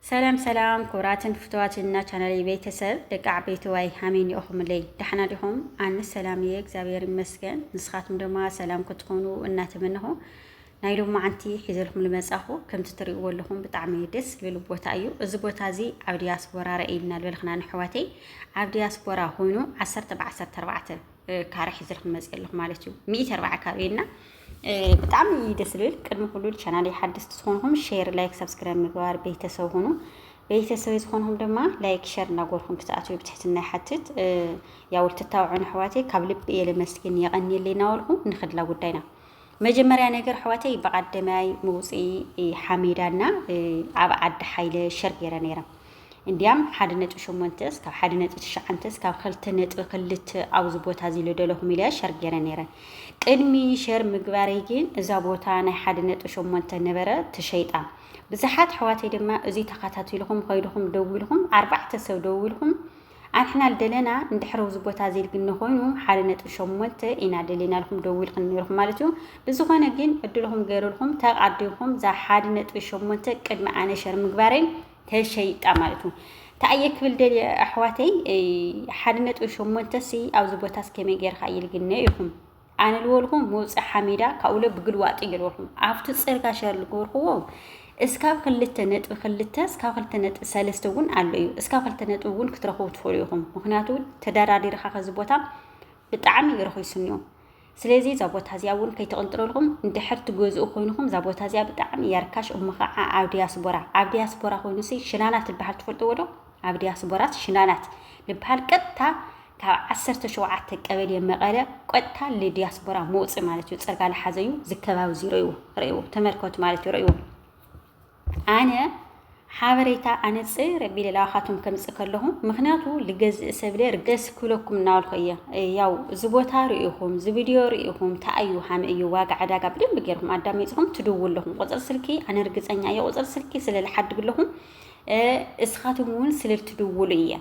ሰላም ሰላም ኩብራትን ፍትዋትን እና ቻናለይ ቤተሰብ ደቂ ዓበይቲ ዋይ ሃመይ ኒኦኹምለይ ዳሕና ዲኹም ኣንስ ሰላም እየ እግዚኣብሔር ይመስገን ንስኻትኩም ድማ ሰላም ክትኾኑ እናተመነኹ ናይ ሎም መዓንቲ ሒዘልኩም ልመጻኹ ከምቲ ትሪእዎ ኣለኹም ብጣዕሚ ደስ ዝብል ቦታ እዩ እዚ ቦታ እዚ ኣብ ዲያስፖራ ረእይና ዝበልክና ንሕዋተይ ኣብ ዲያስፖራ ኮይኑ ዓሰርተ ብዓሰርተ ኣርባዕተ ካረ ሒዘልኩም መፅ ኣለኹ ማለት እዩ ሚእቲ ኣርባዓ ካሬ እና ብጣዕሚ ደስ ዝብል ቅድሚ ኩሉ ቻናለይ ሓደስቲ ዝኾንኹም ሼር ላይክ ሰብስክራይብ ምግባር ቤተሰብ ሁኑ ቤተሰበይ ዝኾንኹም ድማ ላይክ ሸር እናጎርኩም ክትኣትዩ ብትሕትና ይሓትት ያው ልትታውዑን ኣሕዋተይ ካብ ልቢ እየ ለመስግን የቐኒየለይ እናበልኩ ንክድላ ጉዳይና መጀመርያ ነገር ኣሕዋተይ በቓደማይ ምውፅኢ ሓሜዳና ኣብ ዓዲ ሓይለ ሸር ገይረ ነይረ እንድያም ሓደ ነጥቢ ሸሞንተ እስካብ ሓደ ነጥቢ ትሽዓንተ እስካብ ክልተ ነጥቢ ክልተ ኣብዚ ቦታ እዚ ልደለኹም ኢለ ሸር ገይረ ነይረ። ቅድሚ ሸር ምግባረይ ግን እዛ ቦታ ናይ ሓደ ነጥቢ ሸሞንተ ነበረ ተሸይጣ። ብዙሓት ኣሕዋተይ ድማ እዚ ተኸታቲልኹም ከይድኹም ደዊልኹም ኣርባዕተ ሰብ ደዊልኹም ኣንሕና ልደለና እንድሕር ኣብዚ ቦታ እዚ ግን ንኾይኑ ሓደ ነጥቢ ሸሞንተ ኢና ደሊና ኢልኩም ደዊልኩም ነይርኩም ማለት እዩ። ብዝኾነ ግን ዕድልኹም ገይርልኩም ተቓዲምኩም እዛ ሓደ ነጥቢ ሸሞንተ ቅድሚ ኣነ ሸር ምግባረይ ተሸይጣ ማለት ዩ። ታይ እየ ክብል ደልየ ኣሕዋተይ ሓደ ነጥቢ ሸሞንተ ሲ ኣብዚ ቦታስ ከመይ ጌርካ ይልግነ ኢኹም ኣነ ልበልኩም መውፅእ ሓሚዳ ካብኡ ለ ብግልዋጥ እዩ ልበልኩም ኣብቲ ፅርጋ ሸር ልገበርክዎ እስካብ ክልተ ነጥቢ ክልተ እስካብ ክልተ ነጥቢ ሰለስተ እውን ኣሎ እዩ እስካብ ክልተ ነጥቢ እውን ክትረኽቡ ትኽእሉ ኢኹም። ምክንያቱ ተደራዲርካ ከዚ ቦታ ብጣዕሚ እዩ ረኺሱኒ እዩ። ስለዚ እዛ ቦታ እዚኣ እውን ከይትቕንጥርልኹም እንድሕር ትገዝኡ ኮይንኹም እዛ ቦታ እዚኣ ብጣዕሚ እያ ርካሽ እሞ ከዓ ኣብ ዲያስቦራ ኣብ ዲያስቦራ ኮይኑሲ ሽናናት ዝበሃል ትፈልጥዎ ዶ ኣብ ዲያስቦራስ ሽናናት ዝበሃል ቀጥታ ካብ ዓሰርተ ሸውዓተ ቀበሌ መቐለ ቀጥታ ልዲያስቦራ መውፅእ ማለት እዩ ፅርጋ ልሓዘዩ ዝከባቢ እዚ ርእይዎ ርእይዎ ተመልከቱ ማለት እዩ ርእይዎ ኣነ ሓበሬታ ኣነጽ ረቢለ ላባኻቶም ከምጽእ ከለኹ ምክንያቱ ልገዝእ ሰብለ ርገስ ክብለኩም እናበልኩ እየ ያው እዚ ቦታ ርኢኹም እዚ ቪድዮ ርኢኹም ተኣዩ ሃመ እዩ ዋጋ ዕዳጋ ብደንብ ገይርኩም ኣዳሚፅኹም ትድውሉ ኣለኹም ቁፅር ስልኪ ኣነ ርግፀኛ እየ ቁፅር ስልኪ ስለ ልሓድግ ኣለኹም እስኻትኩም እውን ስልል ትድውሉ እየ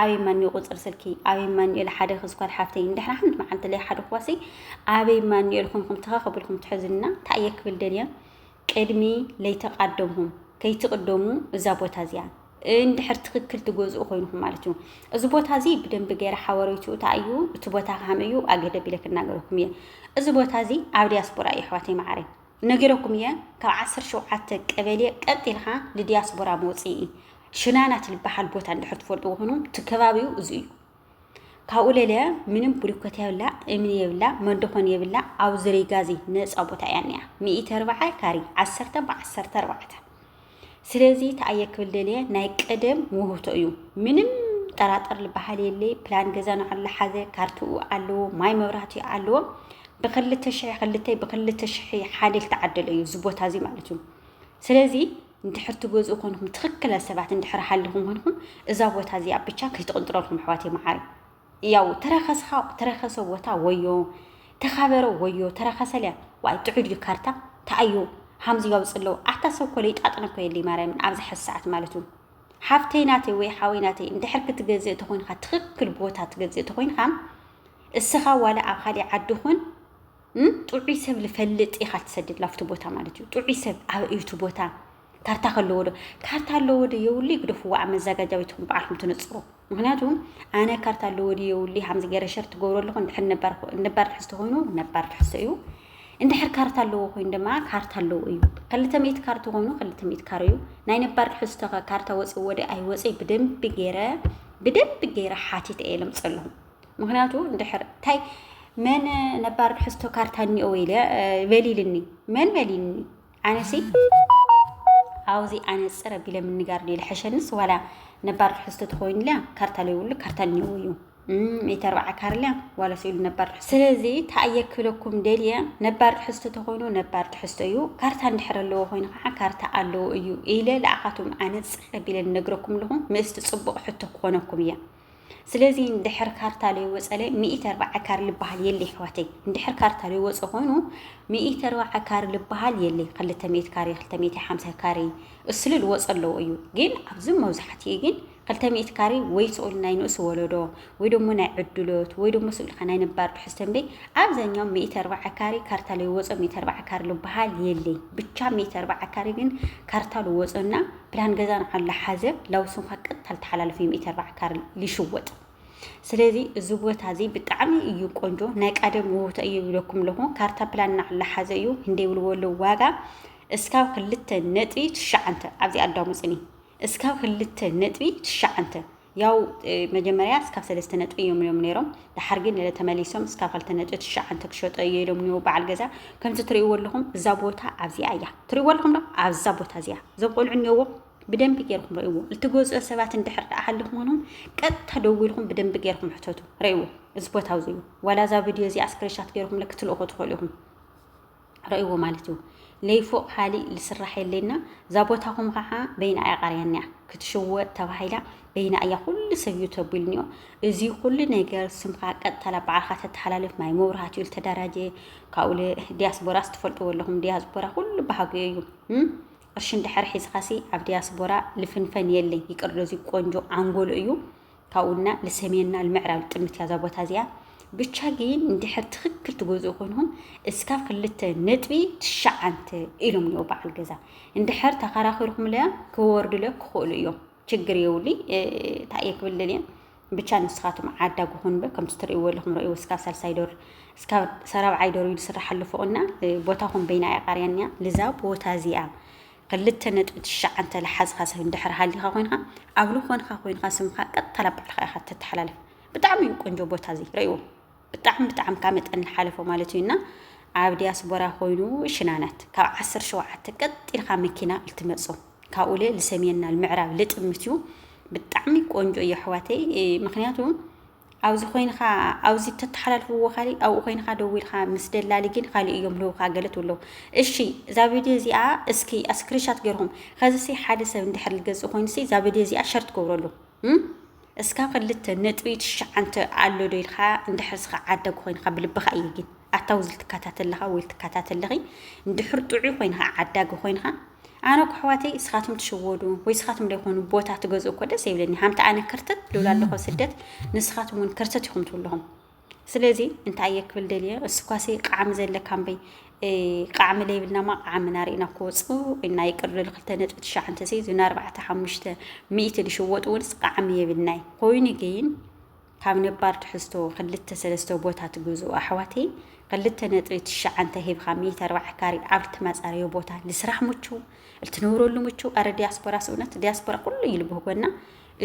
ኣበይ ማኒ ቁፅር ስልኪ ኣበይ ማኒኤል ሓደ ክዝኳል ሓፍተይ እንድሕና ሓንቲ መዓልቲ ለይ ሓደ ክዋሲ ኣበይ ማኒኤል ኮንኩም ተኸኸብልኩም ትሕዝና እንታይ እየ ክብል ደልየ ቅድሚ ለይተቃደምኩም ከይትቅደሙ እዛ ቦታ እዚኣ እንድሕር ትክክል ትገዝኡ ኮይንኩም ማለት እዩ እዚ ቦታ እዚ ብደንቢ ገይረ ሓበሬቱ እታ እዩ እቲ ቦታ ካም እዩ ኣገደ ቢለ ክናገረኩም እየ እዚ ቦታ እዚ ኣብ ዲያስፖራ እዩ ኣሕዋተይ መዓረ ነጊረኩም እየ ካብ ዓሰር ሸውዓተ ቀበሌ ቀጢልካ ንዲያስፖራ መውፅኢ ሽናናት ዝበሃል ቦታ እንድሕር ትፈልጡ ኮይኑ እቲ ከባቢኡ እዚ እዩ ካብኡ ለለ ምንም ብሪኮት የብላ እምኒ የብላ መዶኾን የብላ ኣብ ዝርይ ጋዚ ነፃ ቦታ እያ እኒኣ ሚኢተ ኣርባዓ ካሪ ዓሰርተ ብዓሰርተ ኣርባዕተ ስለዚ ተኣየ ክብል ደልየ ናይ ቀደም ውህብቶ እዩ ምንም ጠራጠር ዝበሃል የለ ፕላን ገዛ ንዓሉ ሓዘ ካርትኡ ኣለዎ ማይ መብራህቲ ኣለዎ ብክልተ ሽሕ ክልተ ብክልተ ሽሕ ሓደ ዝተዓደለ እዩ እዚ ቦታ እዚ ማለት እዩ ስለዚ እንድሕር ትገዝኡ ኮንኩም ትክክለ ሰባት እንድሕር ሃልኹም ኮንኩም እዛ ቦታ እዚኣ ብቻ ከይትቕንጥረልኩም ኣሕዋት መዓረይ ያው ተረከስኻ ተረከሰ ቦታ ወዮ ተኻበረ ወዮ ተረከሰ ሊያ ዋይ ጥዑድ እዩ ካርታ ተኣዮ ሃምዚ ያውፅ ኣለዎ ኣታ ሰብ ኮለ ይጣጥነ እኮ የለይ ማርያምን ኣብዚ ሕዚ ሰዓት ማለት እዩ ሓፍተይ ናተይ ወይ ሓወይ ናተይ እንድሕር ክትገዝእ ተኮይንካ ትኽክል ቦታ ትገዝእ ተኮይንካ እስኻ ዋላ ኣብ ካልእ ዓዲ ኹን ጥዑይ ሰብ ልፈልጥ ኢኻ ትሰድድ ላብቲ ቦታ ማለት እዩ። ጥዑይ ሰብ ኣበ እዩ እቲ ቦታ? ካርታ ከለዎ ዶ ካርታ ኣለዎ ዶ የውልይ ግደፍዎ ኣብ መዘጋጃ ቤትኩም በዓልኩም ትነፅሩ ምክንያቱ ኣነ ካርታ ኣለዎ ዶ የውልይ ከምዚ ገይረ ሸር ትገብሮ ኣለኹ እንድሕር ነባር ትሕዝቶ ኮይኑ ነባር ትሕዝቶ እዩ እንድሕር ካርታ ኣለዎ ኮይኑ ድማ ካርታ ኣለዎ እዩ ክልተ ሚእቲ ካርታ ኮይኑ ክልተ ሚእቲ ካር እዩ ናይ ነባር ትሕዝቶ ከ ካርታ ወፂ ወደ ኣይወፀይ ብደንቢ ገይረ ብደንቢ ገይረ ሓቲት እየ ለምፀ ኣለኹ ምክንያቱ እንድሕር እንታይ መን ነባር ሕዝቶ ካርታ እኒኦ ኢለ በሊልኒ መን በሊልኒ ኣነሲ ኣብዚ ኣነፅር ኣቢለ ምንጋር ድየ ዝሐሸንስ ዋላ ነባር ትሕዝቶ ተኮይኑልያ ካርታ ለይብሉ ካርታ እኒዎ እዩ ሚእቲ ኣርባዓ ካርልያ ዋላ ስኢሉ ነባር ትሕዝቶ ስለዚ ተኣየክለኩም ደልየ ነባር ትሕዝቶ ተኮይኑ ነባር ትሕዝቶ እዩ ካርታ እንድሕር ኣለዎ ኮይኑ ከዓ ካርታ ኣለዎ እዩ ኢለ ንዓኻትኩም ኣነፅር ኣቢለ ንነግረኩም ኣለኹ ምስቲ ፅቡቅ ሕቶ ክኾነኩም እያ ስለዚ እንድሕር ካርታ ለይወፀለ ሚኢቲ ኣርባዓ ካር ልበሃል የለ ይሕዋተይ እንድሕር ካርታ ለይወፀ ኮይኑ ሚኢቲ ኣርባዓ ካር ልበሃል የለ ክልተ ሚኢት ካሬ ክልተ ሚኢቲ ሓምሳ ካሬ እስሉ ልወፀ ኣለዎ እዩ ግን ኣብዚ መብዛሕትኡ ግን ክልተ ሚኢት ካሬ ወይ ስኡል ናይ ንእሱ ወለዶ ወይ ደሞ ናይ ዕድሎት ወይ ደሞ ስኡልካ ናይ ነባር ትሕዝቶ እምበይ ኣብዛኛው ሚኢቲ ኣርባዓ ካሬ ካርታ ለይወፀ ሚኢቲ ኣርባዓ ካሬ ልበሃል የለ ብቻ ሚኢቲ ኣርባዓ ካሬ ግን ካርታ ልወፀና ፕላን ገዛን ዓላ ሓዘ ላውስንኳ ቀጥታ ልተሓላለፍ እዩ ሚእቲ ኣርባዓ ካርል ሊሽወጥ ስለዚ እዚ ቦታ እዚ ብጣዕሚ እዩ ቆንጆ ናይ ቃደም ውውታ እዩ ይብለኩም ኣለኹ ካርታ ፕላን ናዕላ ሓዘ እዩ ህንደይ ብልዎ ኣለዉ ዋጋ እስካብ ክልተ ነጥቢ ትሽዓንተ ኣብዚ ኣዳሙፅኒ እስካብ ክልተ ነጥቢ ትሽዓንተ ያው መጀመርያ እስካብ ሰለስተ ነጥቢ እዮም ኢሎም ነይሮም ድሓር ግን ነለ ተመሊሶም እስካብ ክልተ ነጥቢ ትሽዓንተ ክሸጦ እዮ ኢሎም ኒው በዓል ገዛ ከምዚ ትርእይዎ ኣለኹም እዛ ቦታ ኣብዚኣ እያ ትርእይዎ ኣለኹም ዶ ኣብዛ ቦታ እዚኣ እዞም ቆልዑ እኒኦዎ ብደንቢ ገይርኩም ረእዎ እትገዝኦ ሰባት እንድሕር ደኣ ሃልኹምንም ቀጥታ ደዊልኩም ብደንቢ ገይርኩም ሕተቱ ረእዎ እዚ ቦታ እዚ እዩ ዋላ እዛ ቪድዮ እዚኣ ስክሪንሻት ገይርኩም ክትልእኹ ትኽእሉ ኢኹም ረእዎ ማለት እዩ ለይ ፎቅ ኻሊእ ልስራሕ የለና ዛቦታኹም ኻዓ በይና እያ ቃርያኒያ ክትሽወጥ ተባሂላ በይና እያ ኩሉ ሰብ እዩ ተቢልኒዮ እዚ ኩሉ ነገር ስምካ ቀጥታ ላብ ባዕልካ ተተሓላልፍ ማይ መብራህት እዩ ልተደራጀ ካብኡ ዲያስቦራ ስትፈልጥዎ ኣለኹም ዲያስቦራ ኩሉ ባህጉ እዩ ቅርሺ እንድሕር ሒዝኻሲ ኣብ ዲያስቦራ ልፍንፈን የለይ ይቅር ዶዚ ቆንጆ ዓንጎሎ እዩ ካብኡ እና ልሰሜን እና ልምዕራብ ልጥምት እያ እዛ ቦታ እዚኣ ብቻ ግን እንድሕር ትክክል ትገዝኡ ኮይንኩም እስካብ ክልተ ነጥቢ ትሸዓንተ ኢሎም እኒኦ በዓል ገዛ እንድሕር ተከራኪርኩምለ ክወርዱለ ክኽእሉ እዮም ችግር የውልይ እንታይ እየ ክብል ደልየ ብቻ ንስኻትም ዓዳጉ ኩንበ ከምቲ ትርእይዎ ኣለኹም ረእይዎ እስካብ ሳልሳይ ዶር እስካብ ሰራብዓይ ዶር እዩ ዝስራሕ ኣሎ ፎቕና ቦታኹም በይና እያ ቃርያንያ ልዛ ቦታ እዚኣ ክልተ ነጥቢ ትሽዓተ ልሓዝኻ ሰብ እንድሕር ሃሊኻ ኮይንካ ኣብ ልኾንካ ኮይንካ ስምካ ቀጥታ ናብ ባዕልኻ ኢኻ ተተሓላልፍ ብጣዕሚ እዩ ቆንጆ ቦታ እዚ ረእዎ ብጣዕሚ ብጣዕሚ ካብ መጠን ልሓለፎ ማለት እዩ እና ኣብ ዲያስፖራ ኮይኑ ሽናናት ካብ ዓሰርተ ሸውዓተ ቀጥ ኢልካ መኪና ልትመፅኦ ካብኡ ለ ልሰሜንና ልምዕራብ ልጥምት እዩ ብጣዕሚ ቆንጆ እዩ ኣሕዋተይ ምክንያቱ ኣብዚ ኮይንካ ኣብዚ ተተሓላልፍዎ ካሊእ ኣብኡ ኮይንካ ደዊልካ ምስ ደላሊ ግን ካሊእ እዮም ልውካ ገለ ትብለው እሺ እዛ ቪድዮ እዚኣ እስኪ ስክሪንሻት ገርኩም ከዚሲ ሓደ ሰብ እንድሕር ልገዝእ ኮይኑሲ እዛ ቪድዮ እዚኣ ሸር ትገብረሉ እስካብ ክልተ ነጥቢ ትሽዓንተ ኣሎ ዶ ኢልካ እንድሕር ስኻ ዓዳጊ ኮይንካ ብልብኻ እዩ ግን ኣታ ውዝል ትካታት ኣለኻ ውይል ትካታት ኣለኺ እንድሕር ጥዑይ ኮይንኻ ዓዳጊ ኮይንኻ ኣነ እኮ ኣሕዋተይ እስኻትኩም ትሽወዱ ወይ እስኻትኩም ዘይኮኑ ቦታ ትገዝኡ እኮ ደስ ይብለኒ ሃምቲ ኣነ ክርትት ልብል ኣለኹ ስደት ንስኻትኩም እውን ክርትት ኢኹም ትብለኹም ስለዚ እንታይ እየ ክብል ደልየ እስኳሲ ቃዕሚ ዘለካ እምበይ ቃዕሚ ለይብልና ማ ቃዕሚ ናርእና ክወፅኡ እና ይቅር ልል ክልተ ነጥቢ ትሽዓንተ ሲ ዝና ኣርባዕተ ሓሙሽተ ሚእቲ ዝሽወጡ እውንስ ቃዕሚ የብልናይ ኮይኑ ግን ካብ ነባር ትሕዝቶ ክልተ ሰለስተ ቦታ ትግዝኡ ኣሕዋተይ ክልተ ነጥቢ ትሽዓንተ ሂብካ ሚእቲ ኣርባዕተ ካሪ ኣብ እትመጻረዮ ቦታ ንስራሕ ምቹው እትነብረሉ ምቹው ኣረ ዲያስፖራ ስእነት ዲያስፖራ ኩሉ እዩ ልብህጎና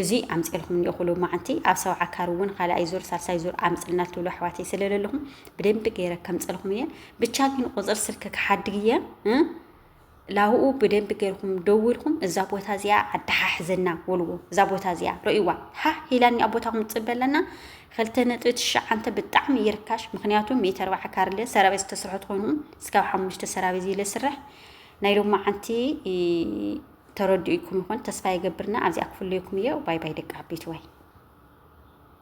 እዚ ኣምፅልኩም እኒኦ ኩሉ መዓንቲ ኣብ ሰብዓ ካሪ እውን ካልኣይ ዙር ሳልሳይ ዙር ኣምፅልና ትብሉ ኣሕዋተይ ስለለለኹም ብደንቢ ገይረ ከምፅልኩም እየ ብቻ ግን ቁፅር ስልክ ክሓድግ እየ ላህኡ ብደንቢ ገርኩም ደዊልኩም እዛ ቦታ እዚኣ ኣደሓሕዘና ወልዎ እዛ ቦታ እዚኣ ረእዋ ሓ ሂላኒ ኣብ ቦታኩም ፅበ ኣለና ክልተ ነጥቢ ትሽዓንተ ብጣዕሚ ይርካሽ ምክንያቱ ሚእቲ ኣርባዓ ካርለ ሰራቤት ዝተሰርሐት ኮይኑ እስካብ ሓሙሽተ ሰራቤት ዝለ ስርሕ ናይ ሎማ ዓንቲ ተረድኡኩም ይኮን ተስፋ ይገብርና ኣብዚኣ ክፍለየኩም እየ ባይ ባይ ደቂ ዓበይቲ ወይ